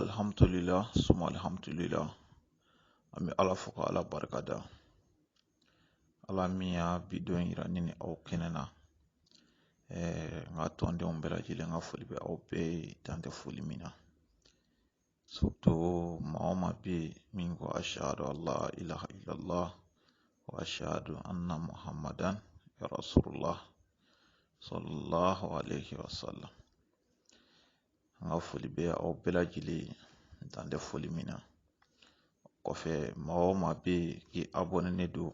alhamdulillah suma alhamdulillah an bɛ ala fo ka ala barika da ala min y'a bi don yira ne ni aw kɛnɛ na eh, n ka tɔndenw bɛɛ lajɛlen ka foli bɛ aw bɛɛ ye dan tɛ foli min na surtout maa o maa bɛ yen min ko ashadu an la ilaha illallah wa ashadu anna muhammadan ya rasulullah sallallahu alaihi wasallam an ka foli bɛ aw bɛɛ lajɛlen ye dan tɛ foli min na kɔfɛ maa o maa bɛ yen k'i abɔnenen don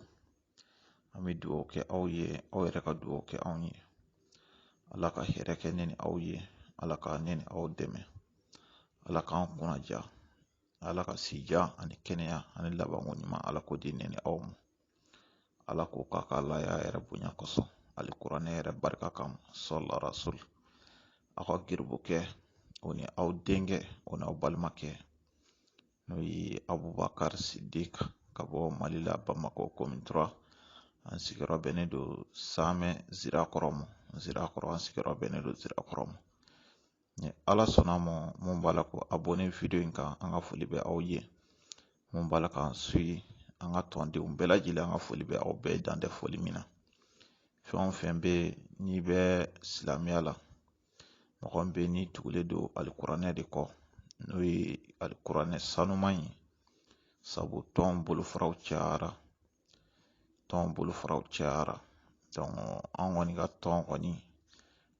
an bɛ dugawu kɛ aw ye aw yɛrɛ ka dugawu kɛ anw ye ala ka hɛrɛ kɛ ne ni aw ye ala ka ne ni aw dɛmɛ ala k'an kunnandiya ala ka si jan ani kɛnɛya ani labanko ɲuman ala k'o di ne ni aw ma ala k'o k'a ka alaya yɛrɛ bonya kosɔn alikuranɛ yɛrɛ barika kama sɔla rasul aw ka garibukɛ o ni aw denkɛ o n'aw balimakɛ n'o ye abubakar sidik ka bɔ mali la bamakɔ commune trois an sigiyɔrɔ bɛnnen don samɛ zirakɔrɔ ma zirakɔrɔ an sigiyɔrɔ bɛnnen don zirakɔrɔ ma ni ala sɔnna ma mun b'a la k'abonné video in kan an ka foli bɛ aw ye mun b'a la k'an suivre an ka tɔndenw bɛɛ lajɛlen an ka foli bɛ aw bɛɛ dan tɛ foli min na fɛn o fɛn bɛ n'i bɛ silamɛya la mɔgɔ min bɛ n'i tugulen don alikuranɛ de kɔ n'o ye alikuranɛ sanuman ye sabu tɔn bolofaraw cayara tɔn bolofaraw cayara donc an kɔni ka tɔn kɔni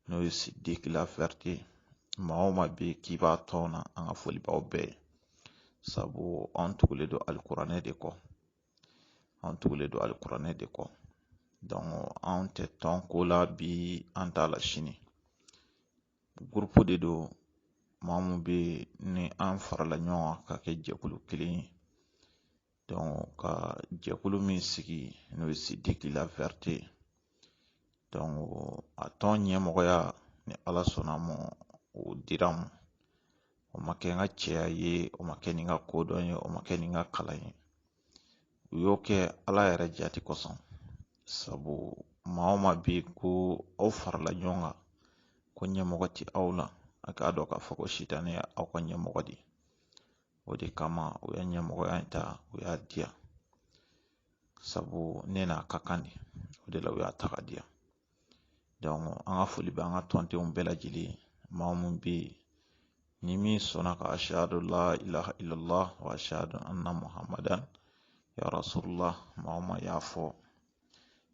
n'o ye sidiki la vérité maa o maa bɛ yen k'i b'a tɔn na an ka foli b'aw bɛɛ ye sabu an tugulen don alikuranɛ de kɔ an tugulen don alikuranɛ de kɔ donc an tɛ tɔn ko la bi an t'a la sini gurupu de don maa mun bɛ ni an farala ɲɔgɔn kan ka kɛ jɛkulu kelen ye ka jɛkulu min sigi n'o ye sidiki la vérité a tɔn ɲɛmɔgɔya ni ala sɔnna ma o dira n ma o ma kɛ n ka cɛya ye o ma kɛ ni n ka kodɔn ye o ma kɛ ni n ka kalan ye u y'o kɛ ala yɛrɛ jati kosɔn sabu maa o maa bɛ yen ko aw farala ɲɔgɔn kan ko ɲɛmɔgɔ tɛ aw la a k'a dɔn k'a fɔ ko sitanɛ ye aw ka ɲɛmɔgɔ de ye o de kama u ye ɲɛmɔgɔya in ta u y'a di yan sabu ne n'a ka kan de o de la u y'a ta k'a di yan donc an ka foli bɛ an ka tɔndenw bɛɛ lajɛlen ye maa mun bɛ yen ni min sɔnna ka ashadu la ilaha illallah wa ashadu anna muhammadan ya rasulullah maa o maa y'a fɔ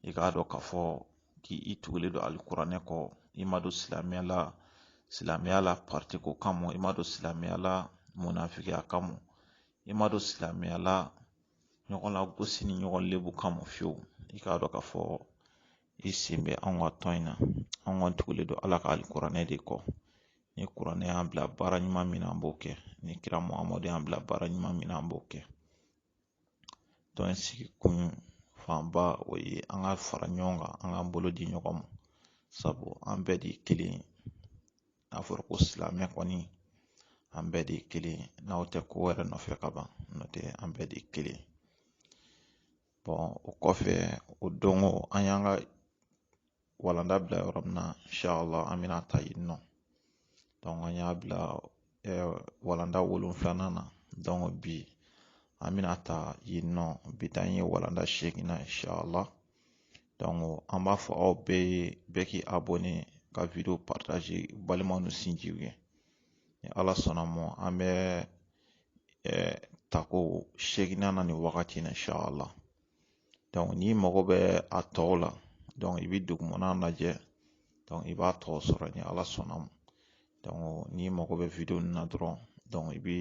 i k'a dɔn k'a fɔ k'i tugulen don alikuranɛ kɔ i ma don silamɛya la parti ko kama i ma don silamɛya la munafigiya kama i ma don silamɛya la ɲɔgɔn lagosi ni ɲɔgɔn lebu kama fiyewu i k'a dɔn k'a fɔ i sen bɛ anw ka tɔn in na anw kɔni tugulen don ala ka alikuranɛ de kɔ ni kuranɛ y'an bila baara ɲuman min na an b'o kɛ ni kira muhamadu y'an bila baara ɲuman min na an b'o kɛ tɔn in sigi kun fanba o ye an ka fara ɲɔgɔn kan an k'an bolo di ɲɔgɔn ma sabu an bɛɛ de ye kelen ye n'a fɔra ko silamɛ kɔni an bɛɛ de ye kelen ye n'aw tɛ ko wɛrɛ nɔfɛ ka ban n'o tɛ an bɛɛ de ye kelen ye bon o kɔfɛ o don ko an y'an ka walanda bila yɔrɔ min na inshallah an bɛna ta yen nɔ an y'a bila walanda wolonfilanan na bi an bɛna ta yen nɔ bi ta in ye walanda seeginnan inshallah an b'a fɔ aw bɛɛ ye bɛɛ k'i abɔne ka video partager balimaw ni sinjiw ye ni ala sɔnna ma an bɛ tako seeginnan na nin wagati in na inshallah n'i mago bɛ a tɔw la donc i bɛ dugumana lajɛ i b'a tɔw sɔrɔ ni ala sɔnna ma n'i mago bɛ video nin na dɔrɔn i bɛ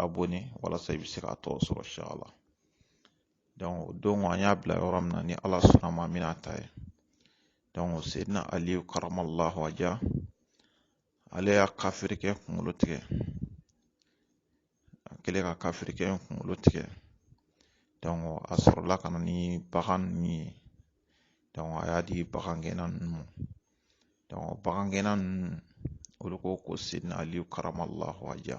abɔne walasa i bɛ se k'a tɔw sɔrɔ inshallah o don an y'a bila yɔrɔ min na ni ala sɔnna ma an bɛna ta yen seyidina ali karamallahu waja ale y'a kafirikɛ kunkolo tigɛ a kɛlen ka kafirikɛ in kunkolo tigɛ donc a sɔrɔla ka na ni bagan ninnu ye a y'a di bagangɛnna ninnu ma bagangɛnna ninnu olu ko ko seyidina ali karamallahu waja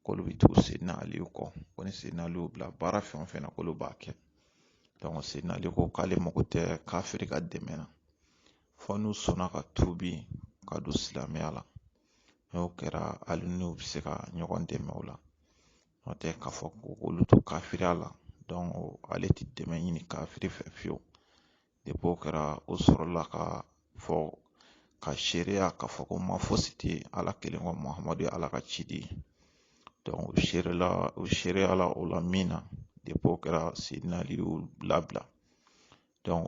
k'olu bɛ tugu seyidina ali kɔ ko ni seyidina ali y'u bila baara fɛn o fɛn na k'olu b'a kɛ seyidina ali ko k'ale mago tɛ kafiri ka dɛmɛ na fɔ n'u sɔnna ka tuubi ka don silamɛya la n'o kɛra ale n'u bɛ se ka ɲɔgɔn dɛmɛ o la n'o tɛ k'a fɔ ko olu to kafiriya la donc ale tɛ dɛmɛ ɲini kafiri fɛ fiyewu depuis o kɛra o sɔrɔla ka fɔ ka seereya k'a fɔ ko ma fosi tɛ ala kelen kɔ muhamadu ye ala ka ciden ye u seere la u seereyala o la min na depuis o kɛra seyidina ali y'u labila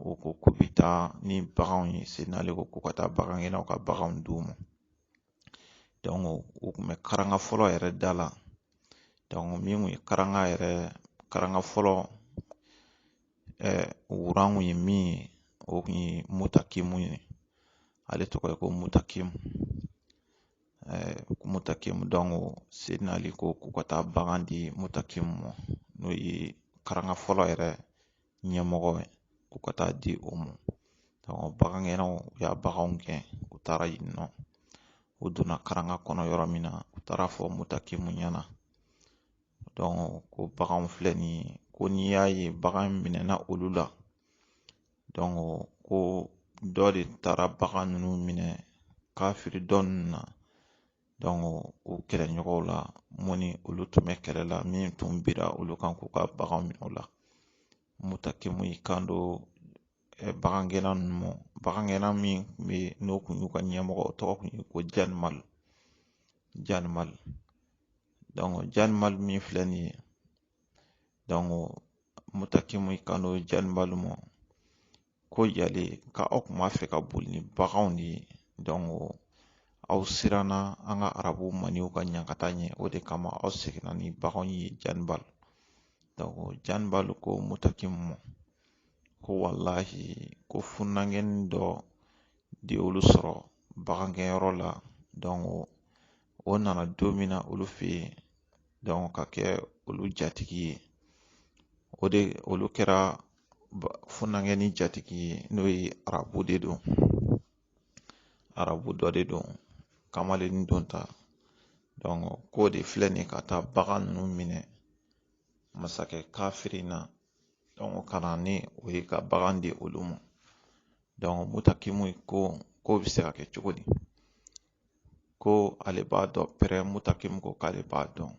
o ko k'u bɛ taa ni baganw ye seyidina ali ko k'u ka taa bagangɛnnaw ka baganw d'u ma u kun bɛ karanga fɔlɔ yɛrɛ da la min kun ye karanga yɛrɛ karanga fɔlɔ wuran kun ye min ye o kun ye mutakimu ye ale tɔgɔ ye ko mutakimu mutakimu seyidina ali ko k'u ka taa bagan di mutakimu ma n'o ye karanga fɔlɔ yɛrɛ ɲɛmɔgɔ ye k'u ka taa di o ma bagan gɛnnaw u y'a baganw gɛn u taara yen nɔ u donna karanga kɔnɔ yɔrɔ min na u taara fɔ mutakimu ɲɛna ko baganw filɛ nin ye ko n'i y'a ye bagan minɛna olu la donc ko dɔ de taara bagan ninnu minɛ kafiri dɔ ninnu na o kɛlɛɲɔgɔnw la mun ni olu tun bɛ kɛlɛ la min tun bira olu kan k'u ka baganw minɛ o la mutakimu y'i kan don bagan gɛnna ninnu ma bagan gɛnna min tun bɛ yen n'o kun y'u ka ɲɛmɔgɔ o tɔgɔ kun ye ko janibal janibal janibal min filɛ nin ye mutakimu y'i kan don janibal ma ko yali ka aw kun b'a fɛ ka boli ni baganw de ye donc aw siranna an ka arabu maniw ka ɲankata ɲɛ o de kama aw seginna ni baganw ye janibal janibal ko mutakimu ma ko walahi ko funankɛni dɔ de y'olu sɔrɔ bagangɛnyɔrɔ la o nana don min na olu fɛ yen ka kɛ olu jatigi ye o de olu kɛra funankɛni jatigi ye n'o ye arabu de don arabu dɔ de don kamalen don ta k'o de filɛ nin ye ka taa bagan ninnu minɛ masakɛ kafiri na ka na ni u ye ka bagan di olu ma donc mutakimu ko k'o bɛ se ka kɛ cogo di ko ale b'a dɔn pɛrɛn mutakimu ko k'ale b'a dɔn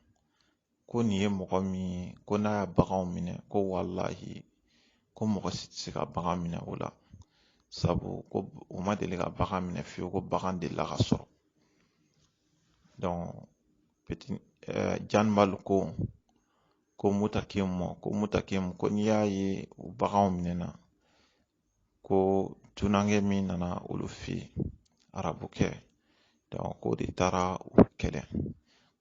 ko nin ye mɔgɔ min ye ko n'a y'a baganw minɛ ko walahi ko mɔgɔ si tɛ se ka bagan minɛ o la sabu ko u ma deli ka bagan minɛ fiyewu ko bagan delila ka sɔrɔ eh, janibal ko ko mutakimu ko mutakimu ko n'i y'a ye u baganw minɛna ko dunankɛ min nana olu fɛ yen arabukɛ donc k'o de taara u kɛlɛ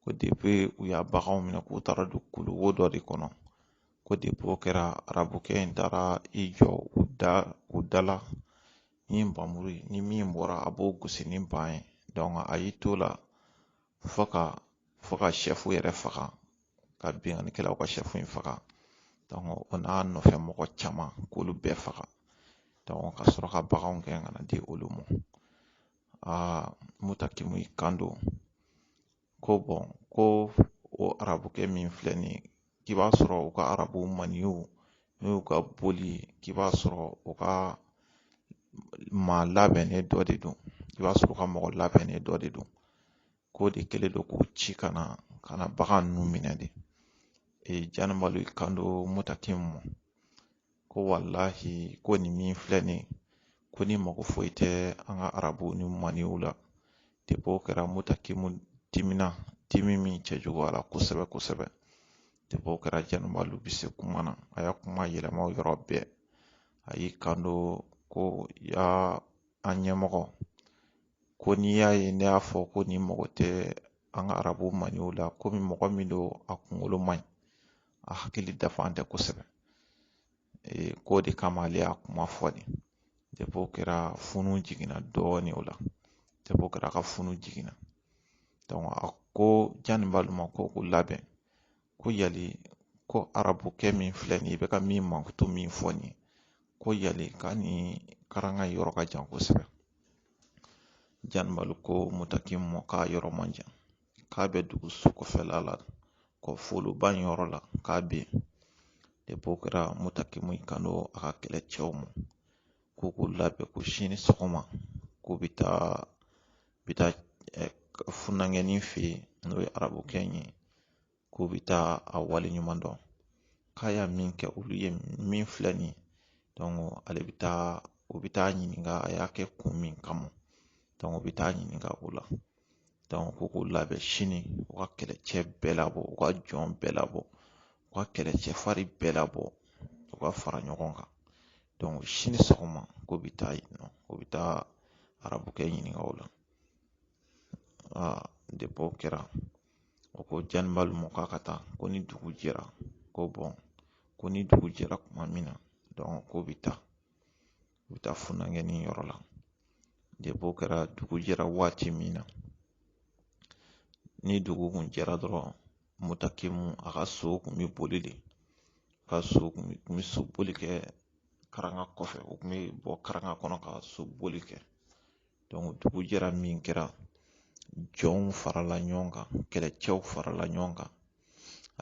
ko depuis u y'a baganw minɛ k'u taara don kuluwo dɔ de kɔnɔ ko depuis o kɛra arabukɛ in taara i jɔ u da u da la ni npanmuru ye ni min bɔra a b'o gosi ni npan ye donc a y'i to la fo ka fo ka sɛfu yɛrɛ faga ka binkannikɛlaw ka sɛfu in faga donc o n'a nɔfɛ mɔgɔ caman k'olu bɛɛ faga donc ka sɔrɔ ka baganw gɛn ka na di olu ma aa mutakimu y'i kan don ko bon ko o arabukɛ min filɛ nin ye k'i b'a sɔrɔ u ka arabu maniw n'o y'u ka boli ye k'i b'a sɔrɔ u ka maa labɛnnen dɔ de don i b'a sɔrɔ u ka mɔgɔ labɛnnen dɔ de don k'o de kɛlen don k'o ci ka na ka na bagan ninnu minɛ de ee janibal y'i kan don mutakimu ma ko walahi ko nin min filɛ nin ye ko nin mako foyi tɛ an ka arabu ni maniw la depi o kɛra mutakimu dimina dimi min cɛjuguyara kosɛbɛ kosɛbɛ depi o kɛra janibali bɛ se kuma na a y'a kuma yɛlɛma o yɔrɔ bɛɛ a y'i kanto ko ya an ɲɛmɔgɔ ko n'i y'a ye ne y'a fɔ ko nin mako tɛ an ka arabu maniw la komi mɔgɔ min don a kunkolo man ɲi a hakili dafalen tɛ kosɛbɛ k'o de kama ale y'a kuma fɔ de depi o kɛra funu jiginna dɔɔnin o la depi o kɛra k'a funu jiginna a ko janibali ma ko o labɛn ko yali ko arabukɛ min filɛ nin ye i bɛ ka min mankutu min fɔ nin ye ko yali k'a ni karanga yɔrɔ ka jan kosɛbɛ janibali ko mutakimu ma k'a yɔrɔ man jan k'a bɛ dugu sokɔfɛla la kɔfoloba in yɔrɔ la k'a bɛ yen depi o kɛra mutakimu y'i kanto a ka kɛlɛcɛw ma ko k'u labɛn ko sini sɔgɔma k'u bɛ taa bɛ taa funankɛnin fɛ yen n'o ye arabukɛ in ye k'u bɛ taa a wale ɲuman dɔn k'a y'a min kɛ olu ye min filɛ nin ye ale bɛ taa u bɛ taa ɲininka a y'a kɛ kun min kama u bɛ taa ɲininka o la ko k'u labɛn sini u ka kɛlɛcɛ bɛɛ labɔ u ka jɔn bɛɛ labɔ u ka kɛlɛcɛ farin bɛɛ labɔ u ka fara ɲɔgɔn kan sini sɔgɔma k'u bɛ taa yen nɔ u bɛ taa arabukɛ ɲininka o la aa o kɛra o ko janibali ma k'a ka taa ko ni dugu jɛra ko ko ni dugu jɛra kuma min na k'u bɛ taa u bɛ taa funankɛnin yɔrɔ la depi o kɛra dugu jɛra waati min na ni dugu kun jɛra dɔrɔn mutakimu a ka so kun bɛ boli de ka so kun bɛ so boli kɛ karanga kɔfɛ u kun bɛ bɔ karanga kɔnɔ ka so boli kɛ dugu jɛra min kɛra jɔnw farala ɲɔgɔn kan kɛlɛcɛw farala ɲɔgɔn kan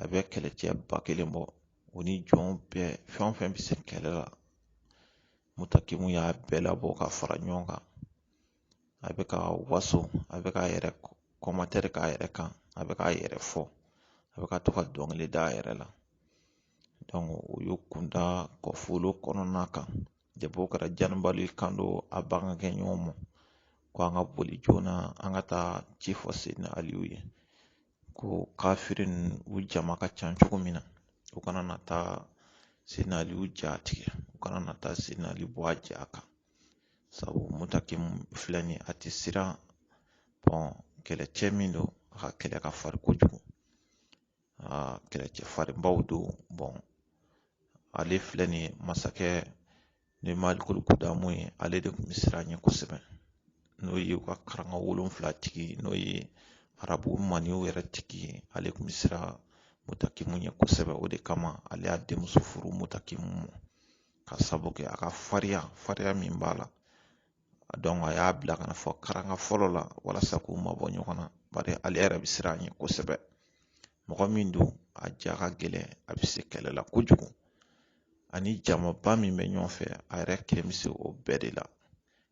a bɛ kɛlɛcɛ ba kelen bɔ o ni jɔn bɛɛ fɛn o fɛn bɛ se kɛlɛ la mutakimu y'a bɛɛ labɔ ka fara ɲɔgɔn kan a bɛ ka waso a bɛ k'a yɛrɛ kɔmatɛri k'a yɛrɛ kan a bɛ k'a yɛrɛ fɔ a bɛ ka to ka dɔnkili da a yɛrɛ la u y'u kunda kɔfolo kɔnɔna kan depi o kɛra janibali y'i kanto a bagan gɛn ɲɔgɔn ma ko an ka boli joona an ka taa ci fɔ seyidina aliyu ye ko kafiri ninnu u jama ka ca cogo min na u kana na taa seyidina aliyu ja tigɛ u kana na taa seyidina ali bɔ a ja kan sabu mutakimu filɛ nin a tɛ siran kɛlɛcɛ min don a ka kɛlɛ ka farin kojugu aa kɛlɛcɛ farinbaw don ale filɛ nin ye masakɛ ni malikulu kudamu ye ale de kun bɛ siran ɲɛ kosɛbɛ n'o ye u ka karanga wolonfila tigi n'o ye arabu maniw yɛrɛ tigi ye ale kun bɛ siran mutakimu ɲɛ kosɛbɛ o de kama ale y'a denmuso furu mutakimu ma ka sabu kɛ a ka fariya fariya min b'a la a y'a bila ka na fɔ karanga fɔlɔ la walasa k'u mabɔ ɲɔgɔn na bari ale yɛrɛ bɛ siran a ɲɛ kosɛbɛ mɔgɔ min don a ja ka gɛlɛn a bɛ se kɛlɛ la kojugu ani jamaba min bɛ ɲɔgɔn fɛ a yɛrɛ kelen bɛ se o bɛɛ de la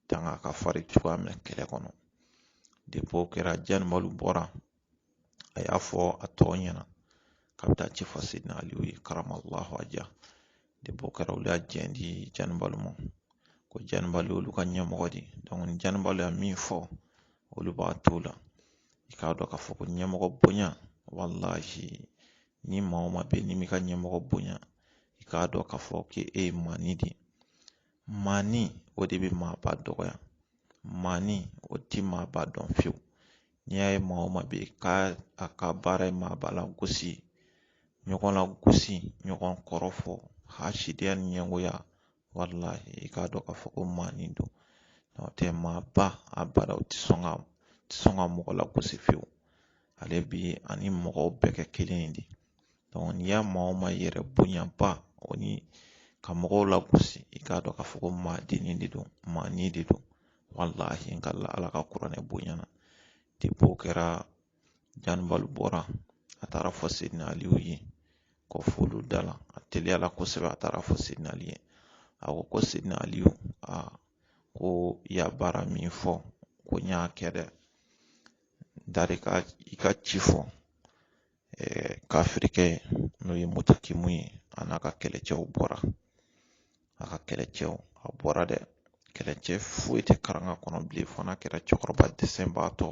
tanga ka farin cogoya min na kɛlɛ kɔnɔ depi o kɛra janibalu bɔra a y'a fɔ a tɔw ɲɛna k'a bɛ taa ci fɔ sidina aliyu ye karamallahu wajahu depi o kɛra olu y'a jɛn di janibalu ma ko janibalu olu ka ɲɛmɔgɔ de ni janibalu y'a min fɔ olu b'a t'o la i k'a dɔn k'a fɔ ko ɲɛmɔgɔ bonya walahi ni maa o maa bɛ yen n'i m'i ka ɲɛmɔgɔ bonya i k'a dɔn k'a fɔ k'e ye maani de ye maani o de bɛ maaba dɔgɔya maani o tɛ maaba dɔn fiyewu n'i y'a ye maa o maa bɛ yen k'a a ka baara ye maaba lagosi ɲɔgɔn lagosi ɲɔgɔn kɔrɔfɔ hasidenya ni ɲɛngoya walahi i k'a dɔn k'a fɔ ko maani don n'o tɛ maaba abada o tɛ sɔn ka mɔgɔ lagosi fiyewu ale bi a ni mɔgɔw bɛɛ kɛ kelen ye de n'i y'a maa o maa yɛrɛ bonyaba o ni ka mɔgɔw lagosi i k'a dɔn k'a fɔ ko maadennin de don maani de don walahi ka la ala ka kuranɛ bonya na depi o kɛra janibalu bɔra a taara fɔ sidina aliyu ye kɔ f'olu da la a teliyala kosɛbɛ a taara fɔ sidina aliyu ye a ko ko sidina aliyu a ko i y'a baara min fɔ ko n y'a kɛ dɛ n taar'i ka ci fɔ kafirikɛ n'o ye mutakimu ye a n'a ka kɛlɛcɛw bɔra a ka kɛlɛcɛw a bɔra dɛ kɛlɛcɛ foyi tɛ karanga kɔnɔ bilen fo n'a kɛra cɛkɔrɔba dɛsɛbaatɔ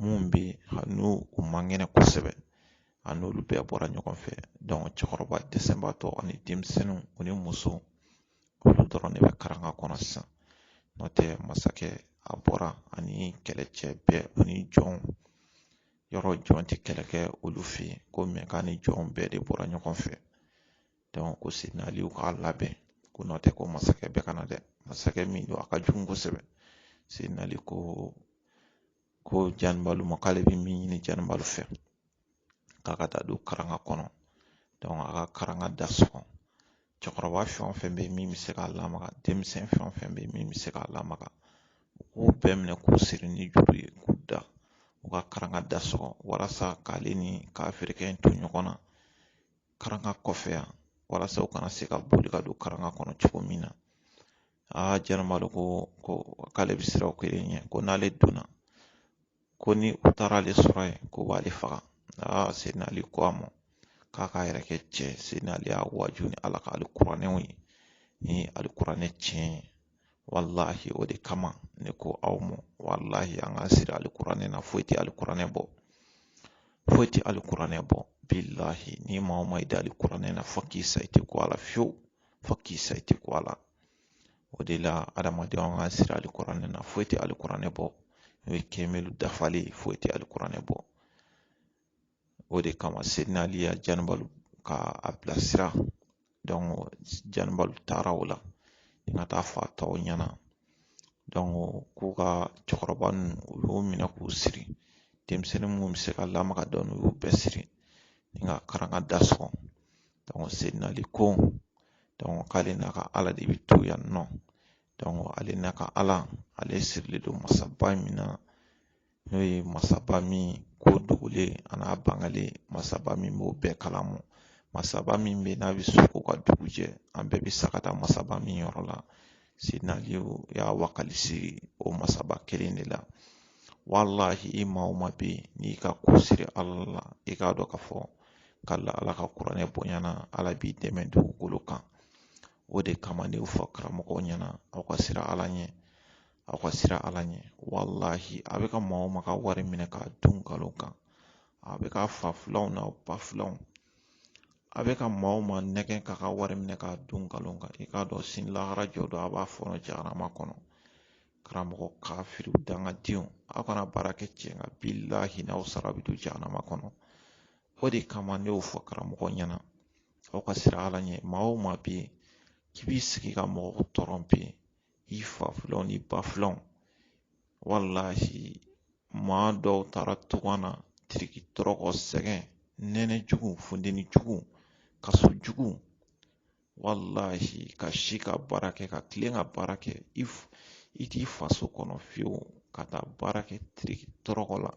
min bɛ hali n'u man kɛnɛ kosɛbɛ a n'olu bɛɛ bɔra ɲɔgɔn fɛ cɛkɔrɔba dɛsɛbaatɔ ani denmisɛnninw u ni muso olu dɔrɔn de bɛ karanga kɔnɔ sisan n'o tɛ masakɛ a bɔra ani kɛlɛcɛ bɛɛ ani jɔnw yɔrɔ jɔn tɛ kɛlɛ kɛ olu fɛ yen ko mɛ k'a ni jɔnw bɛɛ de bɔra ɲɔgɔn fɛ ko sidina aliyu k'a labɛn ko n'o tɛ ko masakɛ bɛ ka na dɛ masakɛ min don a ka jugu kosɛbɛ sidina ali ko ko janibalu ma k'ale bɛ min ɲini janibalu fɛ k'a ka taa don karanga kɔnɔ a ka karanga da sɔgɔ cɛkɔrɔba fɛn o fɛn bɛ yen min bɛ se k'a lamaga denmisɛn fɛn o fɛn bɛ yen min bɛ se k'a lamaga u k'u bɛɛ minɛ k'u siri ni juru ye k'u da u ka karanga da sɔgɔ walasa k'ale ni kafirikɛ in to ɲɔgɔn na karanga kɔfɛ yan walasa u kana se ka boli ka don karanga kɔnɔ cogo min na aa janibali ko k'ale bɛ siran o kelen ɲɛ ko n'ale donna ko ni u taara ale sɔrɔ yen k'u b'ale faga aa seyidina ali ko a ma k'a k'a yɛrɛ kɛ cɛ ye seyidina ali y'a waaju ni ala ka alikuranɛw ye ni alikuranɛ tiɲɛ ye walahi o de kama ne ko aw ma walahi an ka siri alikuranɛ na foyi tɛ alikuranɛ bɔ foyi tɛ alikuranɛ bɔ bilahi ni maa o maa i da alikuranɛ na fo k'i sa i tɛ ko a la fiyewu fo k'i sa i tɛ ko a la o de la adamadenw an ka siri alikuranɛ na foyi tɛ alikuranɛ bɔ n'o ye kɛmɛli dafalen foyi tɛ alikuranɛ bɔ o de kama seyidina ali ya janibali k'a bilasira donc janibali taara o la ni ka taa fɔ a tɔw ɲɛna donc k'u ka cɛkɔrɔba ninnu u y'u minɛ k'u siri denmisɛnnin minnu bɛ se ka lamaga dɔɔni u y'u bɛɛ siri ni ka karanga da sɔgɔ seyidina ali ko donc k'ale n'a ka ala de bɛ to yan nɔ donc ale n'a ka ala ale sirilen don masaba min na n'o ye masaba min ko dogolen a n'a bangalen masaba min b'o bɛɛ kalama masaba min bɛ n'a bɛ su ko ka dugu jɛ an bɛɛ bɛ sa ka taa masaba min yɔrɔ la seyidina aliyu y'a wakali siri o masaba kelen de la walahi i maa o maa bɛ yen n'i ka ko siri ala la i k'a dɔn k'a fɔ k'ala ala ka kuranɛ bonyana ala b'i dɛmɛ dugukolo kan o de kama ne y'o fɔ karamɔgɔw ɲɛna aw ka siran ala ɲɛ aw ka siran ala ɲɛ walahi a bɛ ka maa o maa ka wari minɛ k'a dun nkalon kan a bɛ ka fa filanw n'a ba filanw a bɛ ka maa o maa nɛgɛn k'a ka wari minɛ k'a dun nkalon kan i k'a dɔn sini lahara jɔ don a b'a fɔɔnɔ jahanama kɔnɔ karamɔgɔ kafiri dangadenw aw kana baara kɛ tiɲɛ kan bilahi n'aw sara bɛ don jahanama kɔnɔ o de kama ne y'o fɔ karamɔgɔ ɲɛna aw ka siran ala ɲɛ maa o maa bɛ yen k'i b'i sigi ka mɔgɔw tɔrɔnpe i fa filanw ni ba filanw walahi maa dɔw taara tunga na tiriki tɔrɔkɔ sɛgɛn nɛnɛ jugu funteni jugu kaso jugu walahi ka si ka baara kɛ ka tilen ka baara kɛ i i t'i faso kɔnɔ fiyewu ka taa baara kɛ tiriki tɔrɔkɔ la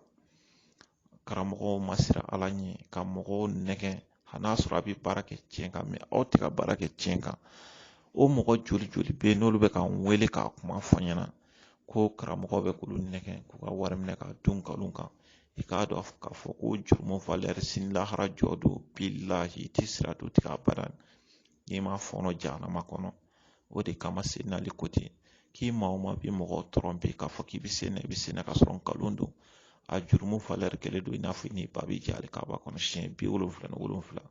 karamɔgɔw ma siran ala ɲɛ ka mɔgɔw nɛgɛn hali n'a sɔrɔ a bɛ baara kɛ tiɲɛ kan mais aw tɛ ka baara kɛ tiɲɛ kan o mɔgɔ joli joli bɛ yen n'olu bɛ ka n wele k'a kuma fɔ n ɲɛna ko karamɔgɔ bɛ k'olu nɛgɛn k'u ka wari minɛ k'a dun nkalon kan i k'a dɔn k'a fɔ ko jurumu valeur sini lahara jɔ don bilahi i tɛ siratu tigɛ abada n'i ma fɔɔnɔ jahanama kɔnɔ o de kama seyidina ali ko ten k'i maa o maa bɛ mɔgɔ tromper k'a fɔ k'i bɛ se na i bɛ se na ka sɔrɔ nkalon don a jurumu valeur kelen don i n'a fɔ i n'i ba bɛ jɛ alikaba kɔnɔ siɲɛ bi wolonfila ni wolonfila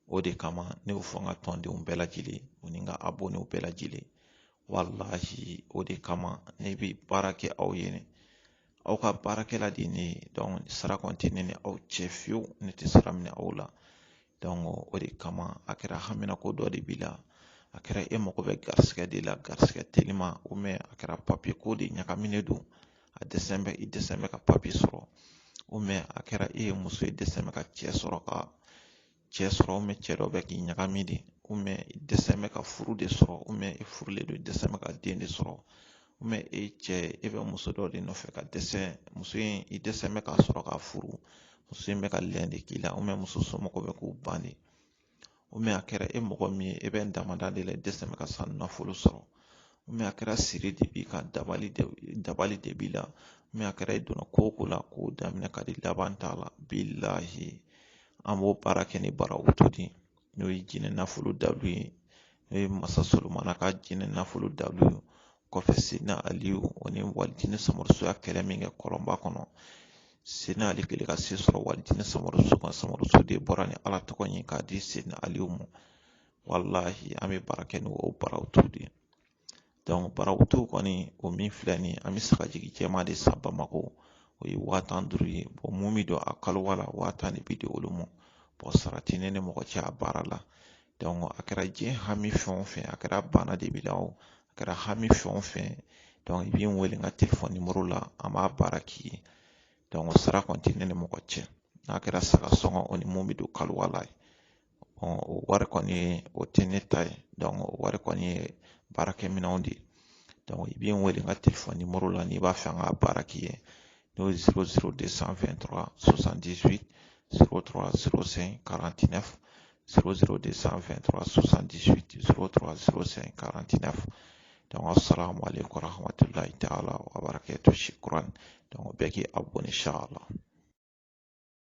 o de kama ne y'o fɔ n ka tɔndenw bɛɛ lajɛlen o ni n ka abɔnenw bɛɛ lajɛlen walahi o de kama ne bɛ baara kɛ aw ye ne aw ka baarakɛla de ye ne ye sara kɔni tɛ ne ni aw cɛ fiyewu ne tɛ sara minɛ aw la o de kama a kɛra haminanko dɔ de b'i la a kɛra e mago bɛ garisigɛ de la garisigɛ telima ou bien a kɛra papiye ko de ɲagaminen don a dɛsɛn bɛ ka papiye sɔrɔ ou bien a kɛra e ye muso ye dɛsɛn bɛ ka cɛ sɔrɔ ou bien cɛ dɔ bɛ k'i ɲagami de ou bien i dɛsɛn bɛ ka furu de sɔrɔ ou bien i furulen don i dɛsɛn bɛ ka den de sɔrɔ e cɛ ye e bɛ muso dɔ de nɔfɛ ka dɛsɛ muso in i dɛsɛn bɛ ka sɔrɔ ka furu muso in bɛ ka lɛn de k'i la ou bien muso somɔgɔw bɛ k'u ban de ou bien a kɛra e mɔgɔ min ye e bɛ damanda de la i dɛsɛn bɛ ka sanu nafolo sɔrɔ ou bien a kɛra siri de b'i kan dabali de b'i la ou bien a kɛra e donna ko o ko la ko daminɛ ka di laban t'a la bilahi an b'o baara kɛ ni barawutu de n'o ye jinɛ nafolo dalu ye n'o ye masa solomana ka jinɛ nafolo dalu ye kɔfɛ seyidina ali o ni walijinɛ samaraso ye kɛlɛ min kɛ kɔlɔnba kɔnɔ seyidina ali kɛlen ka se sɔrɔ walijinɛ samaraso kan samaraso de bɔra ni ala tɔgɔ ye k'a di seyidina aliyu ma walahi an bɛ baara kɛ ni o barawutu de ye barawutu kɔni o min filɛ nin ye an bɛ sagajigi jɛman de san bamakɔ o ye waa tan ni duuru ye mun bɛ don a kaluwa la waa tan de bɛ di olu ma sara tɛ ne ni mɔgɔ cɛ a baara la a kɛra diɲɛ hami fɛn o fɛn a kɛra bana de b'i la o a kɛra hami fɛn o fɛn i bɛ n wele n ka telefɔni nimɔrɔ la an b'a baara k'i ye sara kɔni tɛ ne ni mɔgɔ cɛ n'a kɛra saga sɔngɔ o ni mun bɛ don kaluwa la o wari kɔni o tɛ ne ta ye donc o wari kɔni ye baarakɛminɛnw de ye i bɛ n wele n ka telefɔni nimɔrɔ la n'i b'a fɛ an ka baara k'i ye n'o ye bɛɛ k'i abɔne insala